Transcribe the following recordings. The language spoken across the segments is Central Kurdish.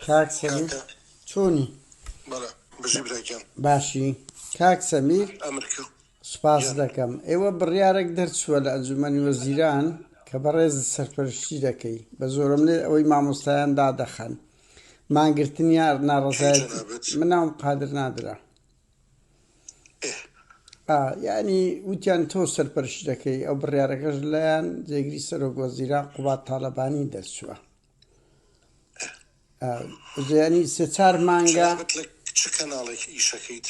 کاک سەمیر چۆنی؟ باشی کاک سەمیر سوپاس دەکەم ئێوە بڕیارێک دەرچووە لە ئەنجومەنی وەزیران کە بەڕێز سەرپەرشتی دەکەی بە زۆرم لێ ئەوەی مامۆستایان دادەخەن مانگرتنی یار ناڕزایەت مناوم قادر نادرا ئه ئا یانی وتیان تۆ سەرپەرشتی دەکەی ئەو بڕیارەکەش لایان جێگری سەرۆک وەزیران قوباد تاڵەبانی دەرچووە ئه ئا زیانی سێ چار مانگە خزمەت لە چ کەناڵێک ئیشەکەیت؟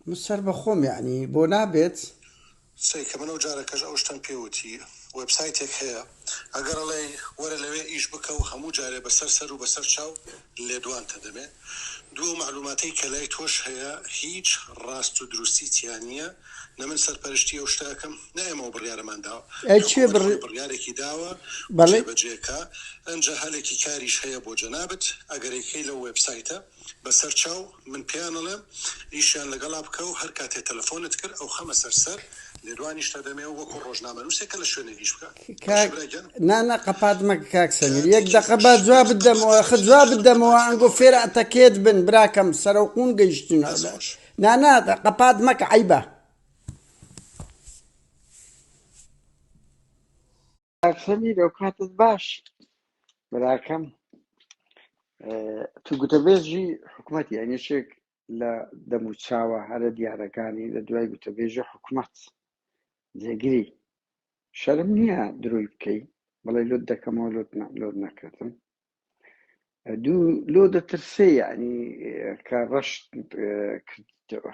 من سەر بە خۆم یانی بۆ نابێت؟ سەی کە من ئەو جارەکەش ئەو شتەم پێ وتی وێبسایتێک هەیە ئەگەر ئەڵێی وەرە لەوێ ئیش بکە و هەموو جارێ بەسەر سەر و بەسەر چاو لێدوانتە دەمێ دوو ئەو مەعلوماتەی کە لای تۆش هەیە هیچ ڕاست و دروستی تیا نییە نە من سەرپەرشتی ئەو شتە ئەکەم نە ئێمە و بڕیارەمان داوە حکومەت خۆی بڕیارێکی داوە جێ بەجێ کا ئەنجا هەلێکی کاریش هەیە بۆ جەنابت ئەگەر ئەیکەی لەو وێبسایتە. بەسەر چاو من پێیان ئەڵێم ئیشیان لەگەڵا بکە و هەر کاتێ تەلەفۆنت کرد ئەو خەمە سەر سەر لێدوانیشت ئەدەمێ و وەکوو ڕۆژنامەنووسێ کە لە شوێنێک ئیش بکا باشە برا گیان. کاتێکی تریش دەست خۆش. کاک سەمیر ئەو کاتت باش براکەم اه، تو گوتەبێژی حکومەتی ئەنیشێک لە دەموچاوە هەرە دیارەکانی لە دوای گوتەبێژی حکومەت جێگری شەرم نییە دروی بکەی بڵێ لۆت دەکەمەوە لۆت نە- لۆت نەکردم دوو لۆ دەترسێ یعنی اه، کە ڕەشت اه، کردیتەوە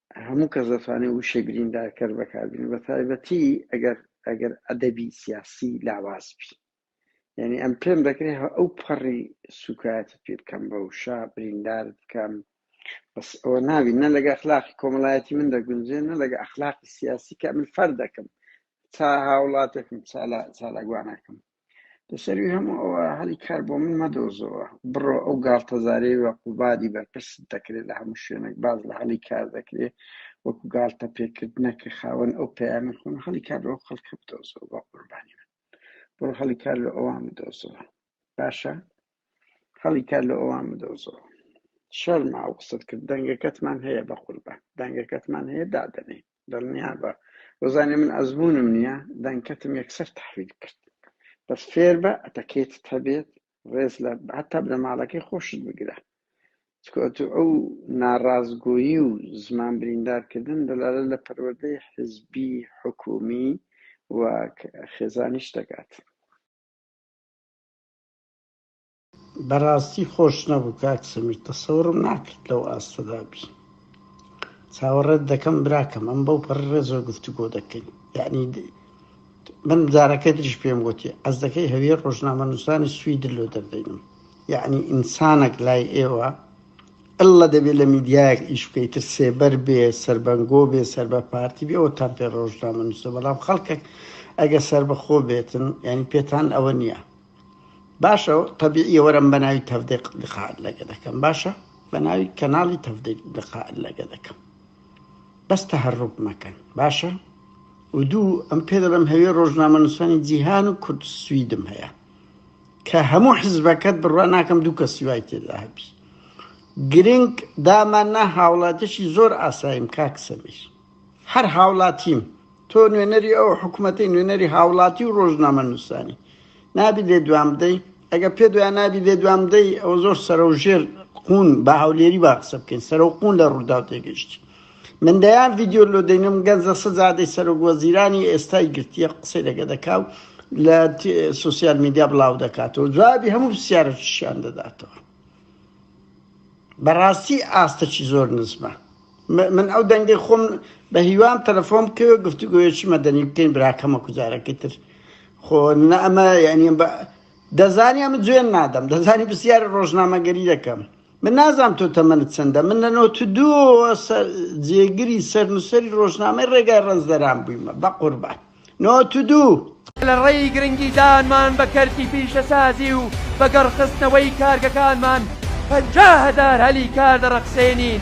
هەموو کەس دەتوانێت وشەی بریندارکەر بەکاربێنێت بەتایبەتی ئەگەر ئەگەر ئەدەبی سیاسی لاواز بی یعنی ئەم پێم دەکرێت ئەو پەڕی سوکایەتی پێ بکەم بە وشە بریندار بکەم بەس ئەوە ناوی نە لەگە ئەخلاقی کۆمەڵایەتی من دەگونجێ نە لەگە ئەخلاقی سیاسی کە من فەر دەکەم تا هاوڵاتێکم چالا چالاگوانەکەم لەسەروی هەموو ئەوە هەلی کار بۆ من مەدۆزەوە بڕۆ ئەو گاڵتەزارەی وە قوبادی بەرپرس دەکرێت لە هەموو شوێنێک باز لە هەلی کار دەکرێت وەکو گاڵتە پێکردنە کە خاوەن ئەو پەیامە خۆن هەلی کار لەو خەڵکە بدۆزەوە بە قوربانی من بڕۆ هەلی کار لە ئەوان بدۆزەوە باشە هەڵی کار لە ئەوان بدۆزەوە شەرما ئەو قسەت کرد دەنگەکەتمان هەیە بە قوربان دەنگەکەتمان هەیە دادەنێن دڵنیابە وەزانێ من ئەزمونم نیە دەنکەتم یەکسەر تەحویل کرد بەس فێربە ئەتەکێتت هەبێت ڕێز لە هەتا بنەماڵەکەی خۆشت بگرە چکۆ ئەتو ئەو ناڕاستگۆیی و زمان بریندارکردن دەلالە لە پەروەردەی حزبی حکومی و خێزانیش دەکات بەڕاستی خۆش نەبوو کاک سمیر تەسەورم ناکرد لەو ئاستەدا بی چاوەڕێت دەکەم براکەم ئەم بەو پەر ڕێزۆ گفتوگۆ دەکەین یعنی من جارەکە دریش پێم وتی ئەس دەکەی هەویە ڕۆژنامە نووسانی سوید لۆ دەردەینم یعنی ئینسانەک لای ئێوە ئەللا دەبێت لە میدیایەک ئیش بکەیت تر سێبەر بێ سربەنگۆ بێ سەر بە پارتی بێ ئەوە تام پێ ڕۆژنامە نووسە بەڵام خەڵکێک ئەگە سربەخۆ بێتن ینی پێتان ئەوە نییە باشە تەبیعیە وەرم بە ناوی تەفدێق لقاعد لەگە دەکەم باشە بە ناوی کەناڵی تەفدێک لقاعد لەگە دەکەم بەس تەهەڕوب مەکەن باشە و دوو ئەم پێ دەڵم هەوێ ڕۆژنامەنووسانی جیهان و کورد سویدم هەیە کە هەموو حزبەکەت بڕوا ناکەم دوو کە سیوای تێدا هەبی گرنگ داماننا هاوڵاتیشی زۆر ئاساییم کاکسەمیش هەر هاوڵاتیم تۆ نوێنەری ئەو حکوومەتی نوێنەری هاوڵاتی و ڕۆژنامە نووسانی نابی لێ دوام بدەی ئەگە پێ دوای نابی لێ دوام بدەی ئەو زۆر سەر و ژێر قون بە هەولێری با قسە بکەین سەر و قون لە ڕوودا تێگەشتی من دەیان ڤیددیو لۆ دەینم گەنجە سەزادەی سەرۆک وەزیرانی ئێستای گرتیە قسەی لەگە دەکا و لە سوسیال میدیا بڵاو دەکاتەوە جوابی هەموو پرسیارەشیان دەداتەوە بەڕاستی ئاستەکی زۆر نزمە من ئەو دەنگەی خۆم بە هیوام تەلەفۆن بکەوێت گفتوگویەکی مەدەنی بکەین براکەمە کوجارەکەی تر خۆ نە ئەمە یعنی دەزانی ئەمە جوێن نادەم دەزانی پرسیاری ڕۆژنامەگەری دەکەم من نازام تۆ تەمەنت چەندە من لە نۆ دو جێگری سەرنووسری ڕۆژنامەی ڕێگای ڕەنجدەران بوویمە بە قوربان نۆ دوو. لە ڕێی گرنگیدانمان بە کەرتی پیشەسازی و بە گەڕخستنەوەی کارگەکانمان پەنجا هەزار هەلی کار دەڕەخسێنین.